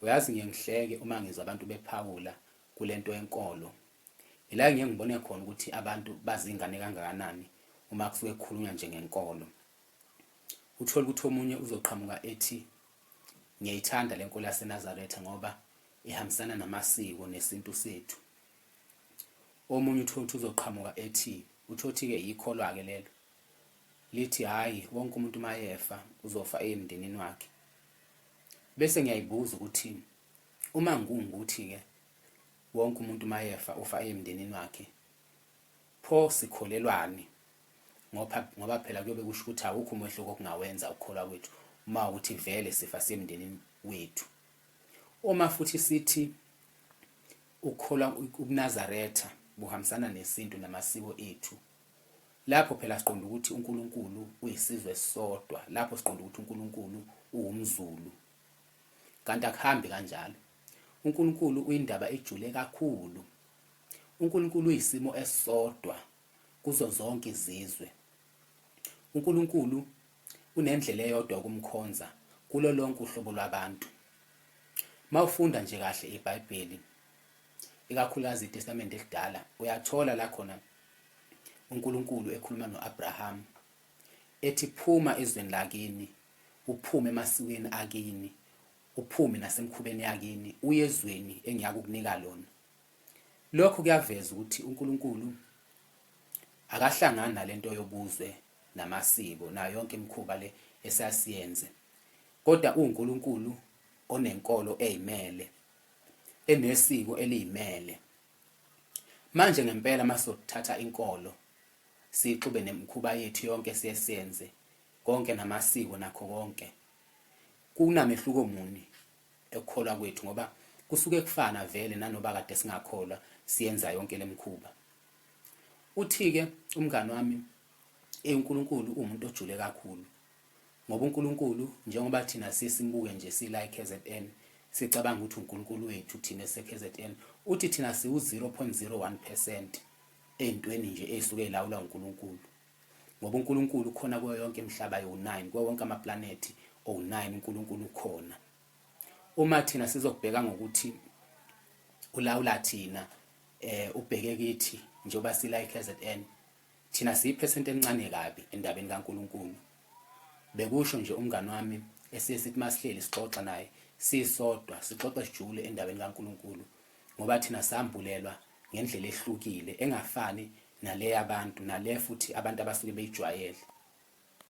Uyazi ngiye ngihleke uma ngizwa abantu bephawula kule nto yenkolo. Yila ngiye ngibone khona ukuthi abantu bazingane kangakanani uma kusuke kukhulunywa nje ngenkolo. Uthole ukuthi omunye uzoqhamuka ethi ngiyayithanda le nkolo yaseNazaretha ngoba ihambisana namasiko nesintu sethu. Omunye uthole ukuthi uzoqhamuka ethi uthothi-ke yikholwa-ke lelo lithi hhayi wonke umuntu mayefa uzofa emndenini wakhe Bese ngiyayibuza ukuthi uma ngungukuthi-ke wonke umuntu mayefa ufa eyemndenini wakhe pho sikholelwani ngoba ngoba phela kuyobe kusho ukuthi awukho umehluko okungawenza ukukholwa kwethu uma ukuthi vele sifa semndenini wethu uma futhi sithi ukukholwa ubunazaretha buhambisana nesintu namasiko ethu Lapho phela siqonda ukuthi uNkulunkulu uyisizwe esisodwa, lapho siqonda ukuthi uNkulunkulu uwumZulu. Kanti akuhambi kanjalo. UNkulunkulu uyindaba ejule kakhulu. UNkulunkulu uyisimo esisodwa kuzo zonke izizwe. UNkulunkulu unendlela eyodwa ukumkhonza kulo lonke uhlobo lwabantu. Mawufunda nje kahle iBhayibheli, ikakhulukazi iTestamente esidala, uyathola la khona uNkulunkulu ekhuluma no-Abrahama ethi phuma ezweni lakini uphume emasikweni akini uphume nasemkhubeni yakini uye ezweni engiyakukunika lona lokho kuyaveza ukuthi uNkulunkulu akahlangani nalento yobuzwe namasiko nayo yonke imikhuba le esasiyenze kodwa uNkulunkulu onenkolo ezimele enesiko eliyimele Manje ngempela masizothatha inkolo siyixube nemkhuba yethu yonke siye senze konke namasiko nakho konke kunamehluko muni ekukholwa kwethu ngoba kusuke kufana vele nanoba kade singakholwa siyenza yonke lemkhuba uthi-ke umngane wami uNkulunkulu uwumuntu ojule kakhulu Ngoba uNkulunkulu njengoba thina siye simbuke nje sila eKZN, sicabanga ukuthi uNkulunkulu wethu thina eseKZN, uthi thina siwu-0.01 percent ey'ntweni nje ey'suke y'lawulwa uNkulunkulu. Ngoba uNkulunkulu ukhona kuyo yonke imihlaba ewu-9, kuwo wonke amaplanethi owu-9 uNkulunkulu ukhona. Uma thina sizokubheka ngokuthi ulawula thina, um ubheke kithi njengoba sila eKZN, Thina siyiphesenti elincane kabi endabeni kaNkulunkulu, bekusho nje umngane wami esiye sithi uma sihleli sixoxa naye sisodwa, sixoxe sijule endabeni kaNkulunkulu ngoba thina sambulelwa ngendlela ehlukile engafani nale yabantu, nale futhi abantu abasuke beyijwayele.